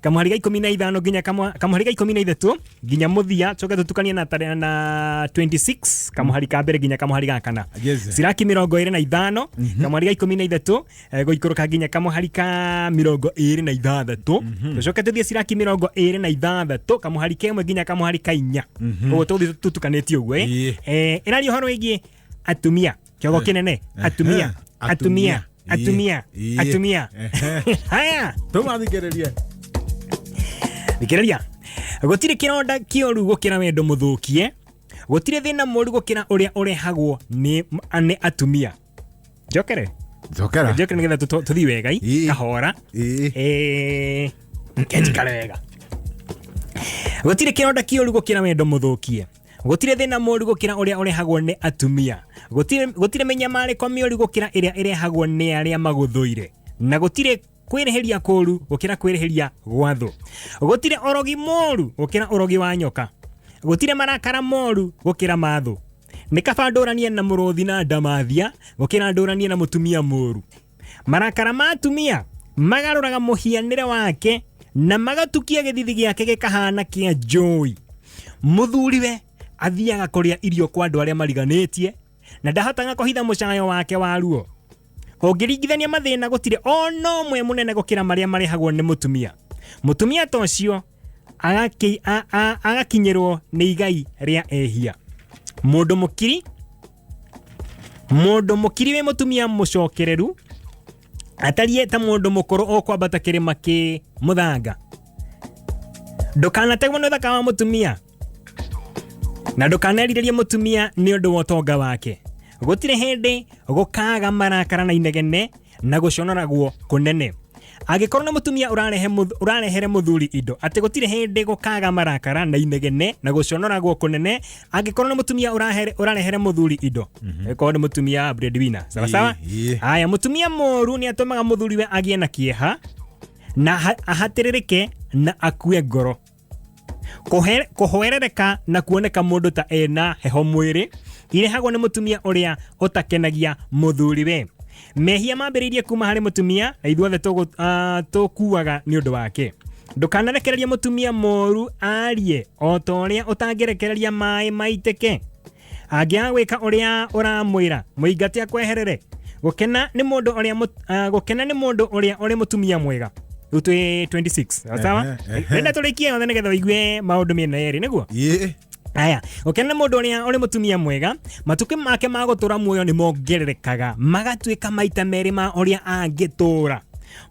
kamwari ga ikumi na ithano nginya kamwa- kamwari ga ikumi na ithatu nginya muthia coke tutukanie na tare- na 26 kamwari ka mbere nginya kamwari ga kana Yes. siraki mirongo iri na ithano kamwari ga ikumi na ithatu eh, guikũrũka nginya kamwari ka mirongo iri na ithathatũ tucoke tuthie siraki mirongo iri na ithathatũ kamwari kemwe nginya kamwari ka inya ũguo tũgũthiĩ tũtukanĩtie ũguo Ĩĩ. ĩ ĩrari ũhoro wĩgiĩ atumia kiogo Eh. kinene Eh. atumia Eh. atumia atumia Iye. atumia Ehe. haya tũmathikĩrĩrie thikĩrĩria gũtirĩ kĩronda kĩoru gũkĩra wendo mũthũkie gũtirĩ thĩna mũru gũkĩra ũrĩa ũrehagwo nĩ nĩ atumia njokere njokera njokere nĩgetha tũtũ- tũthiĩ wega i, Ii. kahora Ii. Eh, njikare wega gũtirĩ kĩronda kĩoru gũkĩra wendo mũthũkie gũtirĩ thĩna mũru gũkĩra ũrĩa ũrehagwo nĩ atumia Gũtirĩ- gũtirĩ mĩnyamarĩko mĩũru gũkĩra ĩrĩa ĩrehagwo nĩ arĩa magũthũire na gũtirĩ kwĩrĩhĩria kũũru gũkĩra kwĩrĩhĩria gwa thũ gũtirĩ ũrogi mũru gũkĩra ũrogi wa nyoka gũtirĩ marakara moru gũkĩra mathũ nĩ kaba ndũranie na mũrũthi na ndamathia gũkĩra ndũranie na mũtumia mũru marakara ma atumia magarũraga mũhianĩre wake na magatukia gĩthithi gĩake gĩkahana kĩa njũi mũthuriwe athiaga kũrĩa irio kwa andũ arĩa mariganĩtie na ndahotaga kũhitha mũcayo wake wa ruo ũngĩringithania mathĩna gũtirĩ o na ũmwe mũnene gũkĩra marĩa marehagwo nĩ mũtumia mũtumia ta ũcio agaki- a- a- agakinyĩrwo nĩ igai rĩa ehia mũndũ mũkiri mũndũ mũkiri wĩ mũtumia mũcokereru atariĩ ta mũndũ mũkũrũ ũkwambata kĩrĩma kĩ mũthanga ndũkanategwo nĩ ũthaka wa mũtumia na ndũkanerirĩrie mũtumia nĩ ũndũ wa ũtonga wake gũtirĩ hĩndĩ gũkaga marakara na inegene na gũconoragwo kũnene angĩkorwo nĩ mũtumia ũrarehe mũth- ũrarehere mũthuri indo atĩ gũtirĩ hĩndĩ gũkaga marakara na inegene na gũconoragwo kũnene angĩkorwo nĩ mũtumia ũrahere- ũrarehere mũthuri indo korwo nĩ mũtumia breadwinner sawa sawa Ĩĩ, ĩĩ. haya mũtumia mũru nĩ atũmaga mũthuriwe agĩe na kĩeha na aha- ahatĩrĩrĩke na akue ngoro Kũhe- kũhoerereka na kuoneka mũndũ ta ena heho mwĩrĩ irehagwo nĩ mũtumia ũrĩa ũtakenagia mũthuriwe mehia mambĩrĩirie kuma harĩ mũtumia na ithuothe tũgũ- ah, tũkuaga nĩ ũndũ wake ndũkanarekererie mũtumia moru arie o ta ũrĩa ũtangĩrekereria maĩ maitĩke angĩaga gwĩka ũrĩa ũramwĩra mũingate akweherere gũkena nĩ mũndũ ũrĩa mũt- ah, gũkena nĩ mũndũ ũrĩa ũrĩ mũtumia mwega rĩu twĩ 26 sawa Ehe, ehe. renda tũrĩkie yothe nĩgetha ũigue maũndũ mĩena yerĩ nĩguo Ĩ, aya gũkena nĩ mũndũ ũrĩa ũrĩ mũtumia mwega matukũ make ma gũtũra muoyo nĩ mongererekaga magatuĩka maita merĩ ma ũrĩa angĩtũra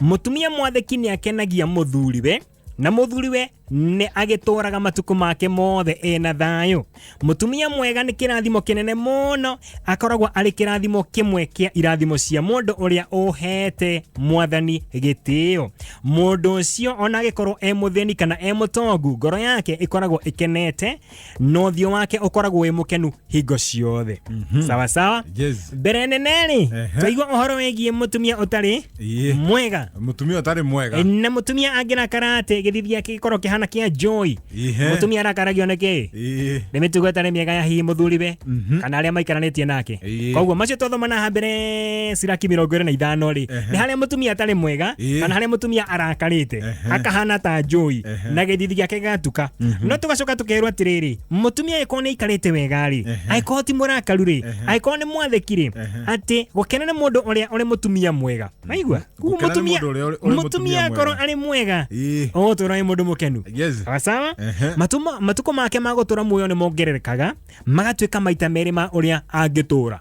mũtumia mwathĩki nĩ akenagia mũthuriwe na mũthuriwe nĩ agĩtũraga matukũ make mothe ena thayũ mũtumia mwega nĩ kĩrathimo kĩnene mũno akoragwo arĩ kĩrathimo kĩmwe kĩa irathimo cia mũndũ ũrĩa ũhete mwathani gĩtĩo mũndũ ũcio ona agĩkorwo e mũthĩni kana e mũtongu ngoro yake ĩkoragwo ĩkenete na ũthiũ wake ũkoragwo wĩ mũkenu hingo ciothe sawa sawa yes mbere nene-rĩ Ehe. twaigua ũhoro wĩgiĩ mũtumia ũtarĩ Ĩĩ. mwega mutumia ũtarĩ mwega na mũtumia angĩrakara atĩ gĩthithi gĩake gĩkorwo kĩhana kĩa njoi Ihe. mũtumia arakaragio nĩ kĩĩ Ĩĩ. nĩ mĩtugo ĩtarĩ mĩega ya hihi mũthuriwe kana arĩa maikaranĩtie nake Ĩĩ. koguo macio twathomana ha mbere ciraki mĩrongo ĩrĩ na ithano rĩ nĩ harĩa mũtumia atarĩ mwega Ĩĩ. kana harĩa mũtumia arakarĩte Ehe. akahana ta njũi na gĩthithi gĩake gĩgatuka no tũgacoka tũkerwo atĩrĩrĩ mũtumia agĩkorwo nĩ aikarĩte wega rĩ Ehe. agĩkorwo ti mũrakaru rĩ Ehe. agĩkorwo nĩ mwathĩki rĩ Ehe. atĩ gũkena nĩ mũndũ ũrĩa ũrĩ mũtumia mwega aigua Koguo Gũkena nĩ mũtumia mũndũ ũrĩa ũrĩ- ũrĩ mũtumia mũtumia akorwo mwega. arĩ mwega Ĩĩ. ũgũtũra nĩ mũndũ mũkenu Yes. Sawa sawa Ehe. Matuma- matukũ make ma gũtũra muoyo nĩ mongererekaga magatuĩka maita merĩ ma ũrĩa angĩtũra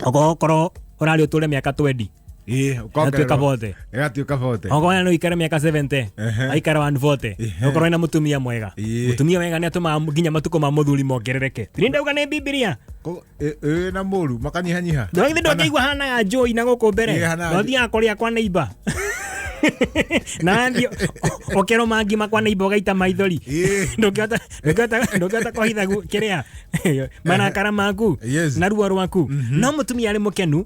okorwo ũrarĩ ũtũre mĩaka 20 Ĩ, ũkongererwo. Agatuĩka bote. Ĩgatuĩka bote. okorwo nĩ ũikare mĩaka 70 Ehe. aikara one vote Ehe. okorwo ena mũtumia mwega Ĩĩ. mũtumia wega nĩ atũmaga nginya matukũ ma mũthuri mongerereke nĩ ndauga nĩ bibilia Ko- ĩ- ĩ, na mũru makanyihanyiha ndwagithĩ ndwakĩigua hanaga njũi na gũkũ mbere Ĩĩ, hanaga na ũthiaga kũrĩa kwa neiba na wathiĩ ũ- ũkerwo mangima kwa neiba ũgaita maithori Ĩĩ. ndũngĩhota ndũngĩhota- ndũngĩhota kũhitha gu- kĩrĩa marakara maku Yes. na ruo rwaku no mũtumia arĩ mũkenu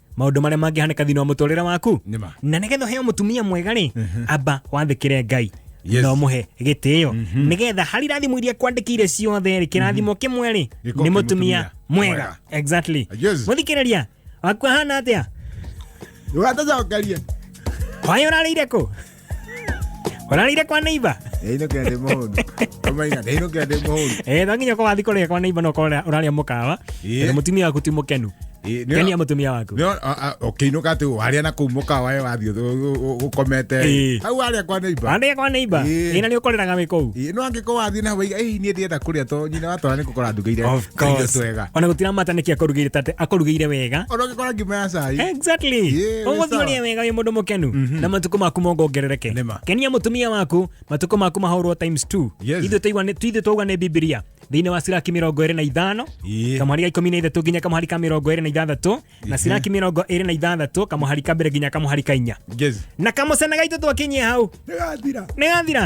maundu maria mangihaneka thiini wa muturire waku Nima. na nigetha uheo mutumia mwega ri amba wathikire ngai Yes. na umuhe gitio nigetha hari rathimu iria kwandikire ciothe ri kirathimo kimwe ri Gĩkorwo ni kĩ mutumia mũtumia mwega mwega. exactly Yes. muthikiriria waku ahana atia Ndũgatacokerie. kwayo urarire ku Ũrarĩire kwa neighbor? Ĩno kĩande mũhũndũ. Ũmaina, ĩno kĩande mũhũndũ. Eh, no nginya ũkorwo wathi kũrĩa kwa neighbor no ũkorwo ũrarĩa mũkawa. Ĩĩ. Tondũ mũtumia waku ti mũkenu. Ĩĩ, nĩ- Kenia mũtumia waku. Nĩ- a- a- ũkĩinũka atĩ warĩa na kũu mũkawa ĩ wathiĩ ũthũ- ũ- ũ- ũkomete Ĩĩ. hau warĩa kwa neighbor. Warĩa kwa neighbor? Ĩĩ. Ĩĩ, na nĩ ũkorĩraga wĩ kũu. Ĩĩ, nĩ wangĩ- ko wathiĩ na waiga ĩ niĩ ndĩenda kũrĩa to nyina watwara nĩ gũkora ndugĩire Of kairio course. twega ona gutiramata niki akorugire tate akorugire wega ona ũngĩkora ngima ya cai exactly Yeah, we ũgũthiĩ sawa. ũrĩa wega wĩ mũndũ mũkenu na matukũ maku mongongerereke Nĩma. kenia mũtumia waku matukũ maku mahorwo times 2 Yes. ithuĩ twaigua nĩ- ithuĩ twauga nĩ bibilia thĩinĩ wa siraki mĩrongo ĩrĩ na ithano Yeah. kamũhari ga ikũmi na ithatũ nginya kamũhari ka mĩrongo ĩrĩ na ithathatũ na ciraki mirongo ĩrĩ na ithathatũ kamũhari ka mbere nginya kamũhari ka inya Yes. na kamũcene gaitũ twakinyie hau Nĩgathira. nĩ gathira